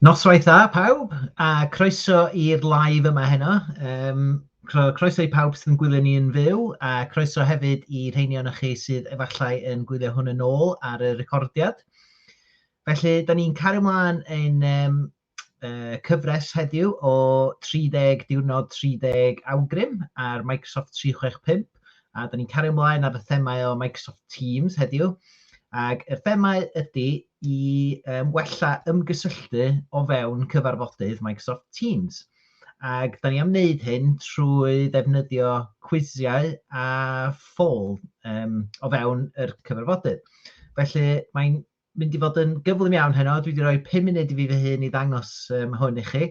Noswaith dda pawb, a croeso i'r live yma heno. Um, croeso i pawb sy'n gwylio ni yn fyw, a croeso hefyd i rheini o'n chi sydd efallai yn gwylio hwn yn ôl ar y recordiad. Felly, da ni'n cario mlaen yn um, uh, cyfres heddiw o 30 diwrnod 30 awgrym ar Microsoft 365 a da ni'n cario ymlaen ar y themau o Microsoft Teams heddiw ac y themau ydy i um, wella ymgysylltu o fewn cyfarfodydd Microsoft Teams ac da ni am wneud hyn trwy ddefnyddio cwisiau a ffôl um, o fewn yr cyfarfodydd. Felly mae'n mynd i fod yn gyflym iawn heno, dwi wedi rhoi 5 munud i fi fy hun i ddangos um, hwn i chi.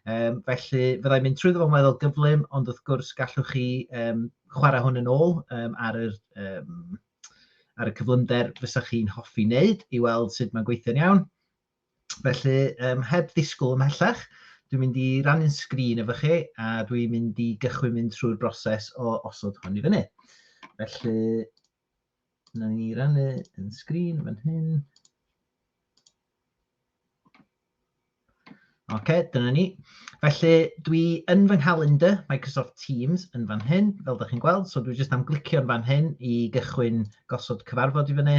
Um, felly fyddai'n mynd trwy ddo'n weddol gyflym, ond wrth gwrs gallwch chi um, chwarae hwn yn ôl um, ar, yr, um, ar y cyflymder fysa chi'n hoffi wneud i weld sut mae'n gweithio'n iawn. Felly, um, heb ddisgwyl ymhellach, dwi'n mynd i rannu'n sgrin efo chi a dwi'n mynd i gychwyn mynd trwy'r broses o osod hwn i fyny. Felly, Na ni rannu yn sgrin fan hyn. Oce, okay, dyna ni. Felly, dwi yn fy nghalendr Microsoft Teams yn fan hyn, fel ydych chi'n gweld. So, dwi jyst am glicio'n fan hyn i gychwyn gosod cyfarfod i fyny.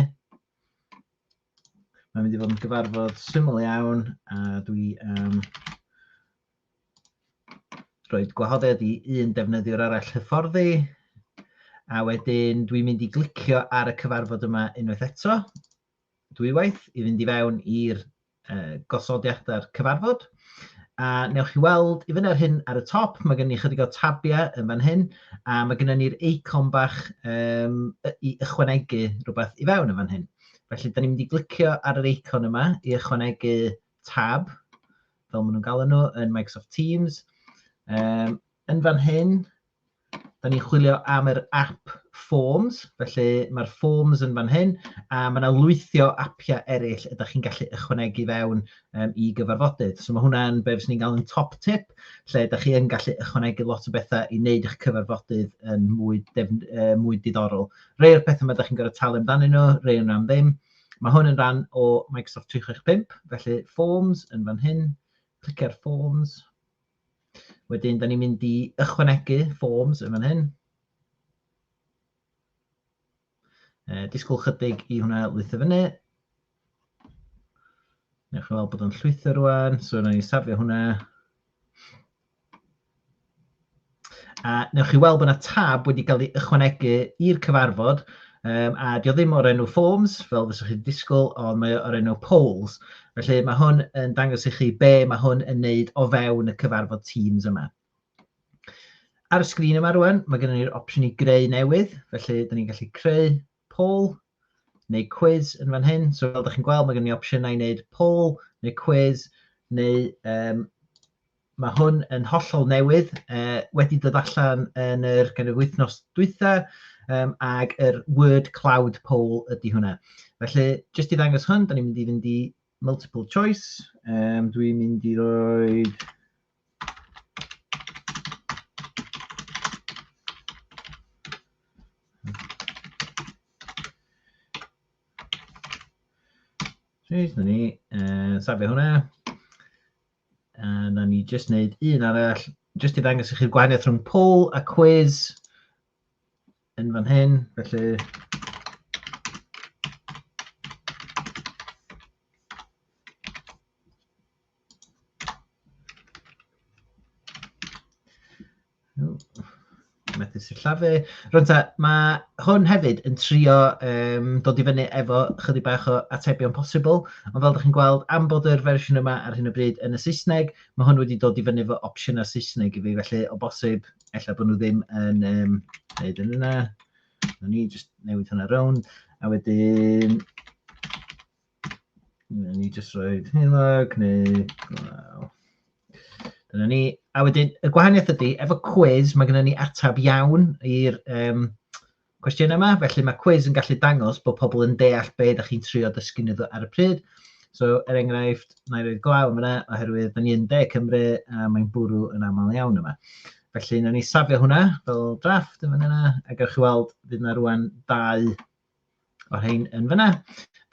Mae'n mynd i fod yn gyfarfod syml iawn, a dwi am um, rhoi gwahoddiad i un defnyddiwr arall hyfforddi, a wedyn dwi'n mynd i glicio ar y cyfarfod yma unwaith eto, dwywaith, i fynd i fewn i'r uh, gosodiadau'r cyfarfod. A newch chi weld i fyny ar hyn ar y top, mae gen i chydig o tabiau yn fan hyn, a mae gen ni'r eicon bach um, i ychwanegu rhywbeth i fewn yn fan hyn. Felly, da ni'n mynd i glicio ar yr eicon yma i ychwanegu tab fel maen nhw'n galw nhw, yn Microsoft Teams. Um, yn fan hyn, da ni'n chwilio am yr app Forms, felly mae'r Forms yn fan hyn, a mae yna lwythio appiau eraill ydych chi'n gallu ychwanegu fewn um, i gyfarfodydd. So mae hwnna'n beth sy'n ni'n gael yn top tip, lle ydych chi'n gallu ychwanegu lot o bethau i wneud eich cyfarfodydd yn mwy, def, uh, mwy diddorol. Rhai o'r pethau mae ydych chi'n gorfod talu amdanyn nhw, rhai o'n am ddim. Mae hwn yn rhan o Microsoft 365, felly Forms yn fan hyn, clicio ar Forms. Wedyn, da ni'n mynd i ychwanegu Forms yn fan hyn. E, disgwyl chydig i hwnna lwytho fyny. Newch chi weld bod o'n llwytho rwan, so na ni safio hwnna. A newch chi weld bod yna tab wedi cael ei ychwanegu i'r cyfarfod, um, a dio ddim o'r enw forms, fel fysa chi'n disgwyl, ond mae o'r enw polls. Felly mae hwn yn dangos i chi be mae hwn yn neud o fewn y cyfarfod Teams yma. Ar y sgrin yma rwan, mae gennym ni'r opsiwn i greu newydd, felly dyn ni'n gallu creu poll neu cwis yn fan hyn. So fel ydych chi'n gweld, mae gen i opsiynau i wneud poll neu cwis, neu um, mae hwn yn hollol newydd, uh, wedi dod allan yn yr kind of, wythnos dwytha, um, ag yr word cloud poll ydy hwnna. Felly, jyst i ddangos hwn, da ni'n mynd i fynd i multiple choice. Um, dwi'n mynd i roi Reit, na ni. Uh, safio hwnna. A na ni jyst wneud un arall, jyst i ddangos i chi'r gwahaniaeth rhwng poll a quiz yn fan hyn. Felly, Methu sillafu. Rŵan ta, ma' hwn hefyd yn trio yym dod i fyny efo chydig bach o atebion posibl, ond fel dach chi'n gweld, am bod yr fersiwn yma ar hyn o bryd yn y Saesneg, ma' hwn wedi dod i fyny efo opsiynau Saesneg i fi, felly o bosib ella bod nhw ddim yn yym wneud yn yna. Wnawn ni jyst newid hwnna rownd a wedyn Ni jyst roed heulog neu glaw. Dyna ni. A wedyn, y gwahaniaeth ydy, efo cwiz, mae gennym ni atab iawn i'r um, cwestiynau yma, felly mae cwiz yn gallu dangos bod pobl yn deall be ydych chi'n trio dysgu nhw ar y pryd. So, er enghraifft, na i roed glaw yma, yna, oherwydd da ni yn De Cymru a mae'n bwrw yn aml iawn yma. Felly, na ni safio hwnna fel drafft yn fan yna, ac ar chi weld, bydd yna rwan dau o'r rhain yn fyna.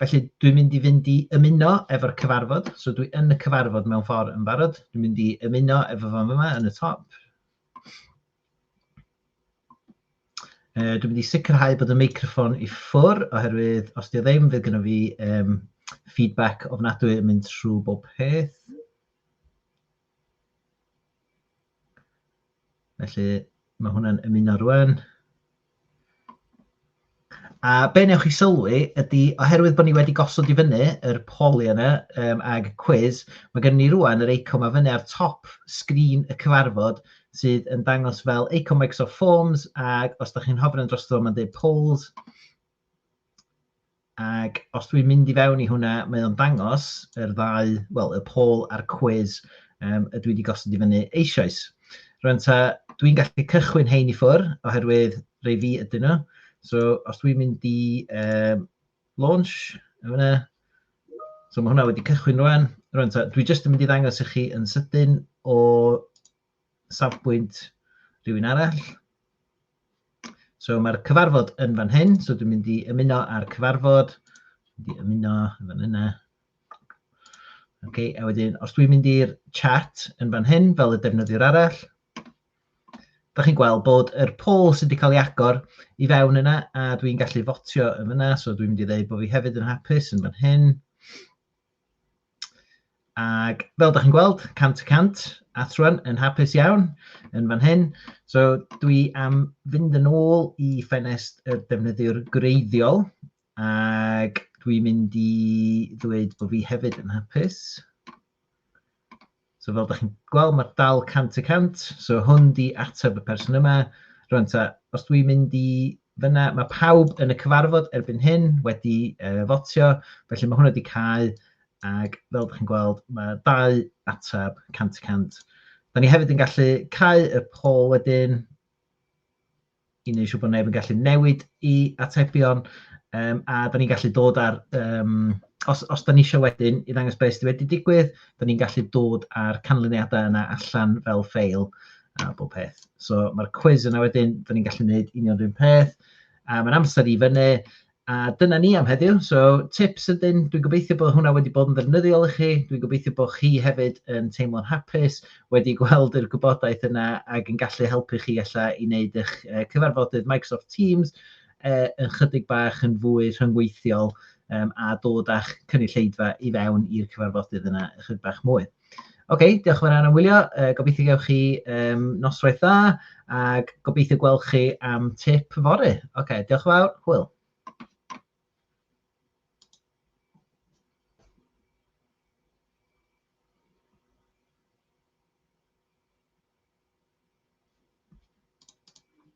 Felly dwi'n mynd i fynd i ymuno efo'r cyfarfod, so dwi yn y cyfarfod mewn ffordd yn barod. Dwi'n mynd i ymuno efo fan yma yn y top. Uh, dwi'n mynd i sicrhau bod y meicroffon i ffwr, oherwydd os di o ddim, fydd gyda fi um, feedback ofnadwy yn mynd trwy bob peth. Felly, mae hwnna'n ymuno rwan. A be newch chi sylwi ydy, oherwydd bod ni wedi gosod i fyny yr poli yna um, ag cwiz, mae gen ni rwan yr eicon mae fyny ar top sgrin y cyfarfod sydd yn dangos fel eicon Microsoft Forms ac os da chi'n hofren dros dro mae'n dweud polls. Ac os dwi'n mynd i fewn i hwnna, mae o'n dangos yr ddau, wel, y poll a'r cwis um, y dwi wedi gosod i fyny eisoes. Rwy'n ta, dwi'n gallu cychwyn hein i ffwr, oherwydd rei fi ydyn nhw. So, os dwi'n mynd i um, launch, yna, so mae hwnna wedi cychwyn rwan. Rwy'n ta, dwi jyst yn mynd i ddangos i chi yn sydyn o safbwynt rhywun arall. So mae'r cyfarfod yn fan hyn, so dwi'n mynd i ymuno â'r cyfarfod, mynd i ymuno yn fan yna. Okay, a wedyn, os dwi'n mynd i'r chat yn fan hyn, fel y defnyddiwr arall, da chi'n gweld bod yr poll sydd wedi cael ei agor i fewn yna, a dwi'n gallu fotio yn fyna, so dwi'n mynd i ddweud bod fi hefyd yn hapus yn fan hyn. Ac fel da chi'n gweld, cant y cant, Athron yn hapus iawn yn fan hyn. So dwi am fynd yn ôl i ffenest y defnyddiwr greiddiol ac dwi'n mynd i ddweud bod fi hefyd yn hapus. So fel da chi'n gweld, mae dal 100 y 100. So hwn di ateb y person yma. Rwy'n ta, os dwi'n mynd i fyna, mae pawb yn y cyfarfod erbyn hyn wedi uh, fotio, felly mae hwnna wedi cael, ac fel da chi'n gweld, mae dau ateb 100 y 100. Da ni hefyd yn gallu cael y pol wedyn, i wneud siŵr bod neb yn gallu newid i atebion, um, a da ni'n gallu dod ar, um, os, os da ni eisiau wedyn i ddangos beth sydd wedi digwydd, da ni'n gallu dod ar canlyniadau yna allan fel ffeil a bob peth. So mae'r cwiz yna wedyn, da ni'n gallu gwneud union rhywun peth, a mae'n amser i fyny, A dyna ni am heddiw. So, tips ydyn, dwi'n gobeithio bod hwnna wedi bod yn ddefnyddiol i chi. Dwi'n gobeithio bod chi hefyd yn teimlo'n hapus, wedi gweld yr gwybodaeth yna ac yn gallu helpu chi alla i wneud eich cyfarfodydd Microsoft Teams eh, yn chydig bach yn fwy rhyngweithiol um, a dod â'ch cynulleidfa i fewn i'r cyfarfodydd yna ychydig bach mwy. Ok, diolch yn fawr iawn am wylio. Yy gobeithio gewch chi yym noswaith dda ac gobeithio gweld chi am tip fory. Ok, diolch yn fawr. Hwyl.